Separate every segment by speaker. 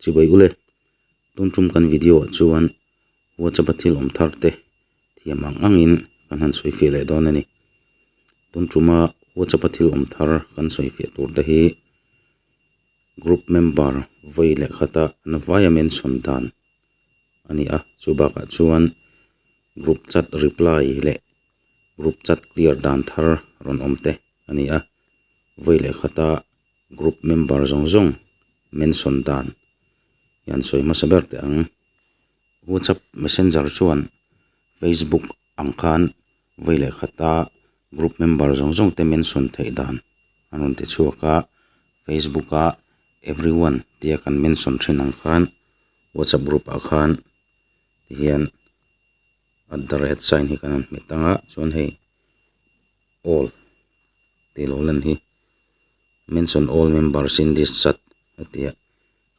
Speaker 1: Chibawihule, tumtum kan video ah chuan WhatsApp a thil awm thar te thiam ang ang in kan han sawi fiah leh dawn a ni. Tumtum a WhatsApp a thil awm thar kan sawi fiah tur te hi group member vawi leh khat a an vaia mention dan a ni a, chu bakah chuan group chat reply leh group chat clear dan thar rawn awm te a ni a, vawi leh khata. group member zawng zawng mention dan hian sawi hmasa ber teh ang whatsapp messenger chuan facebook ang khan vawi leh khat a group member zawng zawng te mention theih dan an rawn ti chhuak a facebook a everyone tia kan mention thin ang khan whatsapp group ah khan tihian at the rate sign hi kan han hmet ang a chuan hei-- all tih lo lan hi mention all members in this chat a ti a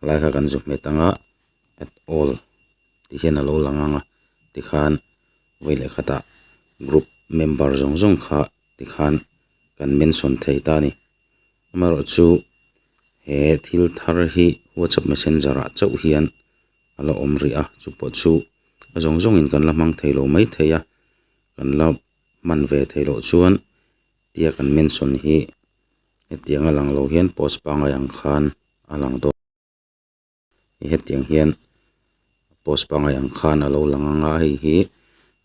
Speaker 1: helai kha kan zuk hmet ang a at all tih hian a lo lang ang a tikhan vawi leh khatah group member zawng zawng kha tikhan kan mention thei ta a ni amaherawh chu he thil thar hi whatsapp messenger ah chauh hian a la awm rih a chu pawh chu zawng zawng in kan la hmang thei lo mai thei a. kan la hman ve thei loh chuan tia kan mention hi hetiang a lang lo hian post pangai ang khan a lang dawn hetiang hian post pangai ang khan a lo lang ang a hei hi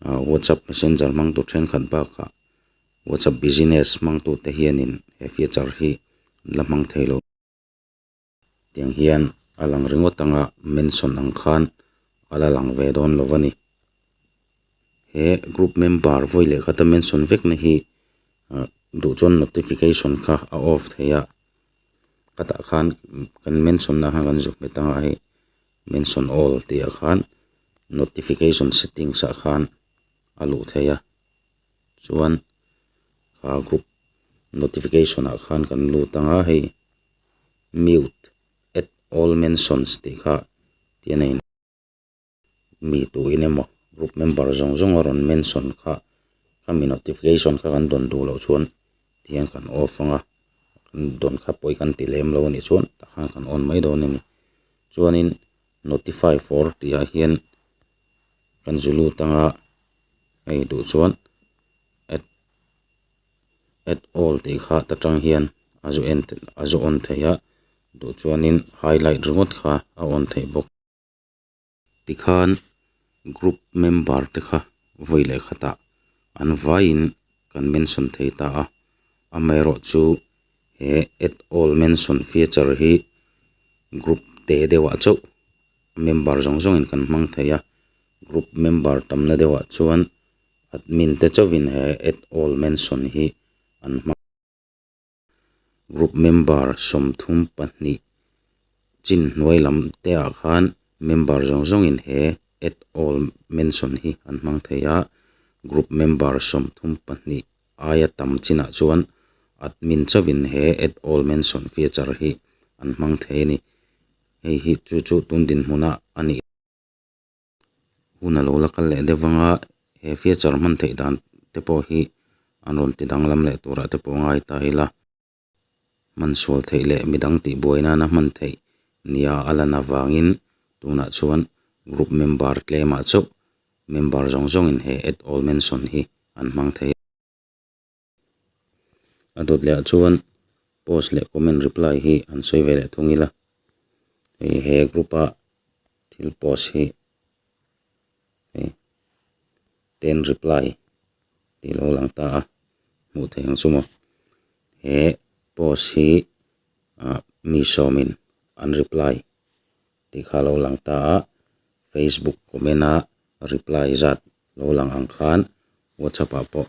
Speaker 1: ah whatsapp messenger hmang tur thenkhat bakah whatsapp business hmang tute hianin he feature hi an la hmang thei lo. tiang hian a lang ringawt ang a mention ang khan a la lang ve dawn lo va ni he group member vawi leh kha te mention vek na hi ah duhchuan notification kha a off theih a hetah khan kan mention na khan kan zuk hmet ang a hei mention all tih ah khan notification settings ah khan a luh theih a. chuan kha group notification ah khan kan lut ang a hei mute add all mentions tih kha tlaiin a in mi tu in emaw group member zawng zawng a rawn mention kha kha mi notification kha kan dawn duh loh chuan tihian kan off ang a kan dawn kha pawh hi kan ti lem lo a nih chuan tah khan kan on mai dawn a ni chuanin notify for tihah hian-- kan zu lut anga hei duh chuan at at all tih kha ta tang hian a zu en a zu awn theih a duh chuanin highlight ringawt kha a awn theih bawk tikhan group member te kha vawi leh khatah an vaiin kan mention thei ta a amaherawh chu he at all mention feature hi group teh deuhah chauh-- member zawng zawng in kan hmang thei a group member tam na deuh ah chuan admin te chauh in he add all mention hi an hmang group member sawmthum pahnih chin hnuai lam te ah khan member zawng zawng in he add all mention hi an hmang thei a group member sawmthum pahnih aia tam chin ah chuan admin chauh in he add all mention feature hi an hmang thei a ni. hei hi chu chu tun dinhmun a a ni hun a lo la kal leh daih vang a he feature hman theih dan te pawh hi an rawn ti danglam leh turah te pawh a ngai ta ila hman sual theih leh midang tih buai nana hman theih nia a lan avangin tunah chuan group member tlemah chauh member zawng zawngin he at all mention hi an hmang thei a. a dawt leh ah chuan post leh comment reply hi an sawi ve leh thung ila hei he group a thil post hi hei ten reply tih lo lang ta a hmuh theih ang chu maw he post hi ah mi sawmin an reply-- tih kha lo lang ta a, Facebook comment a reply zat lo lang ang khan WhatsApp ah pawh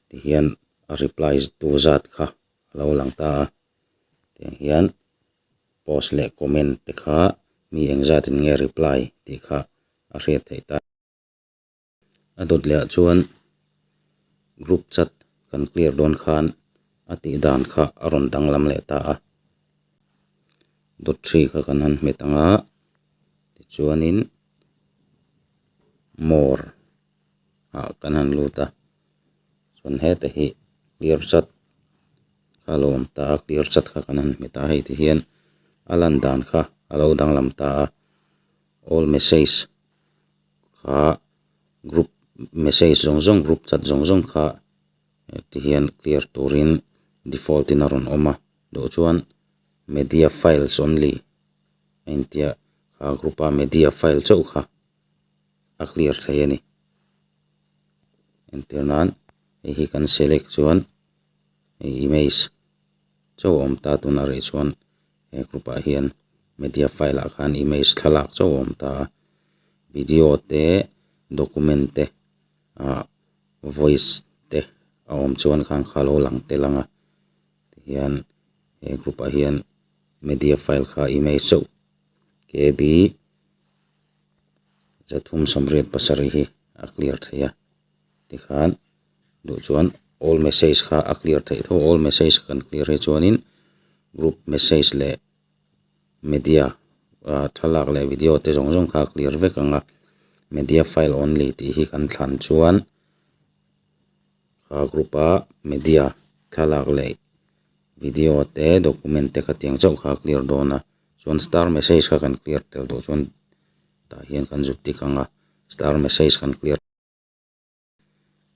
Speaker 1: tihian a reply tu zat kha a lo lang ta a, tiang hian post leh comment te kha mi engzatin nge reply tih kha a hriat theih ta. A dawt leh ah chuan group chat kan clear dawn khan a tih dan kha a rawn danglam leh ta a, dawt ṭhi kha kan han hmet ang a tichuanin more ah kan han lut a chuan heta hi clear chat kha lo awm ta a clear chat kha kan han hmet a hei te hian a lan dan kha a lo danglam ta a all message . kha group message zawng zawng group chat zawng zawng kha heti hian clear turin default in a rawn awm a duh chuan media files only a intia kha group a media file chauh kha a clear thlei a ni entir nan hei hi kan select chuan hei image chauh a awm ta tunah reh chuan-- he group ah hian media file ah khan image thlalak chauh a awm ta a video te document te ah voice te a awm chuan khan kha lo lang tel ang a tihian he group ah hian media file kha image chauh K B zathum sawmriat pasarih hi a clear theih a tikhan-- duh chuan all message kha a clear theih tho a all message kan clear hi chuanin group message leh media ah thlalak leh video te zawng zawng kha a clear vek ang a media file only tih hi kan thlan chuan ah group a media thlalak leh video te document te kha tiang chauh kha a clear dawn a chuan star message kha kan clear tel tawh chuan tah hian kan zut tik ang a star message kan clear --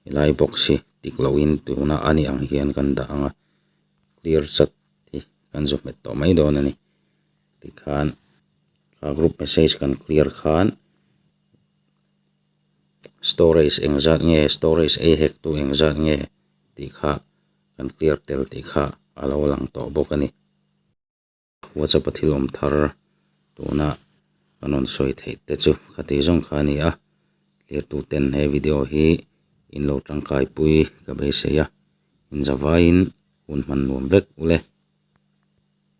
Speaker 1: helai box hi tik lo in tuna a ni ang hian kan dah ang a clear chat hi kan zawh nghet tawh mai dawn a ni tikhan a group message kan clear khan storage eng zat nge storage ei hek tu eng zat nge tih kha kan clear tel tih kha a lo lang tawh bawk a ni. WhatsApp a thil awm thar tuna kan rawn sawi theih te chu ka ti zawng kha a ni a, zirtu ten he video hi in lo tangkai pui ka beisei a, inzavaiin hun hman nuam vek u le.